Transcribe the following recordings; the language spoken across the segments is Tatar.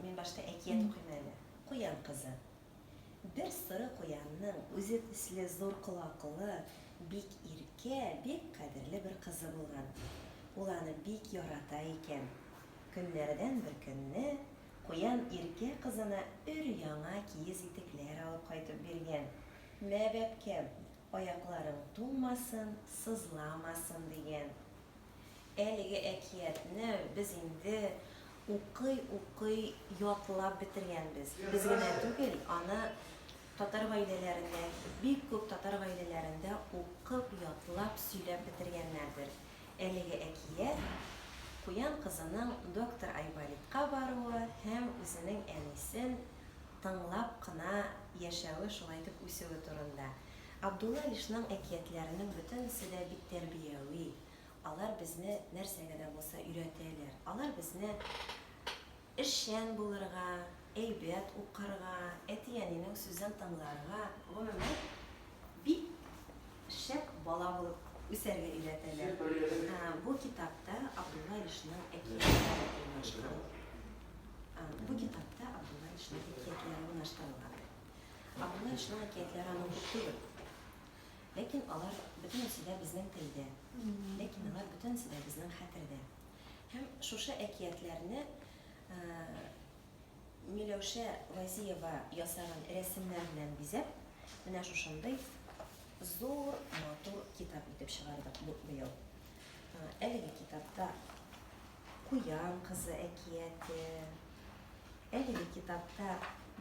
Мин башта әкият укыйм әле. Куян кызы. Бер соры куянның үзе төсле зур колаклы, бик иркә, бик кадерле бер кызы булган. Ул аны бик ярата икән. Көннәрдән бер көнне куян иркә кызына өр-яңа киез итекләр алып кайтып биргән. Мә, бәбкәм, аякларың туңмасын, сызламасын, дигән. Әлеге әкиятне без инде укый-укый ятлап бетергәнбез. Без генә түгел, аны татар гаиләләрендә, бик күп татар гаиләләрендә укып, ятлап, сөйләп бетергәннәрдер. Әлеге әкият, Куян кызының доктор Айболитка баруы һәм үзенең әнисен тыңлап кына яшәве, шулай итеп үсүе турында. Абдулла Илшнең әкиятләренең бөтенесе дә бик тәрбияви, алар безне нәрсәгә дә булса өйрәтәләр. Алар безне эшчән булырга, әйбәт укырга, әти-әнинең сүзен тыңларга, гомумән, бик шәп бала булып үсәргә өйрәтәләр. Бу китапта Абдулла Илшнең әкиятләре урнаштырылган. Ә моны шуның әкиятләре аның түгел. Ләкин алар бөтенесе дә безнең телдә. Ләкин алар бөтенесе дә безнең хәтердә. Һәм шушы әкиятләрне Миләүшә Вәзиева ясаган рәсемнәр белән бизәп, менә шушындый зур, матур китап итеп чыгардык быел. Әлеге китапта Куян кызы әкияте. Әлеге китапта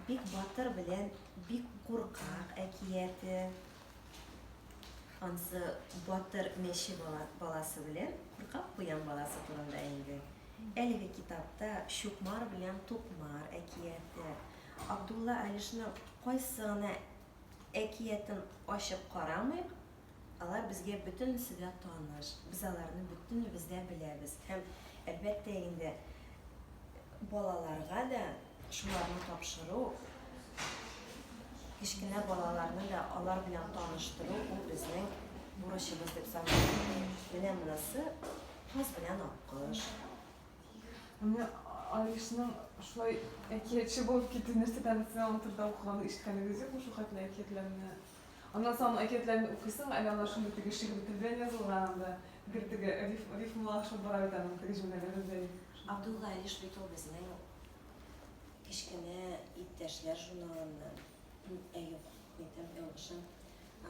Бик батыр белән Бик куркак әкияте. Ансы батыр мәче баласы белән куркак куян баласы турында инде. Әлеге китапта Чукмар белән Тукмар әкияте. Абдулла Алишның кайсы гына әкиятен ачып карамыйк, Алар безгә бөтенесе дә таныш, без аларны бөтенебез дә беләбез һәм, әлбәттә инде, балаларга да шуларны тапшыру, кечкенә балаларны да алар белән таныштыру, ул безнең бурычыбыз дип саныйм. Менә монысы Каз белән Аккош. Менә Алишның шулай әкиятче булып китү нәрсәдән соң, аның турында укыган ишеткәнегез юкмы, шул хәтле әкиятләрне Аннан соң аның әкиятләрен укыйсың, әле алар шундый теге шигъри тел белән язылган анда, гел теге риф, рифмалашып бара бит аның теге җөмләләре белән. Абдул Галиш бит ул безнең кечкенә иптәшләр журналыннан, әй юк, әйтәм, ялгышам.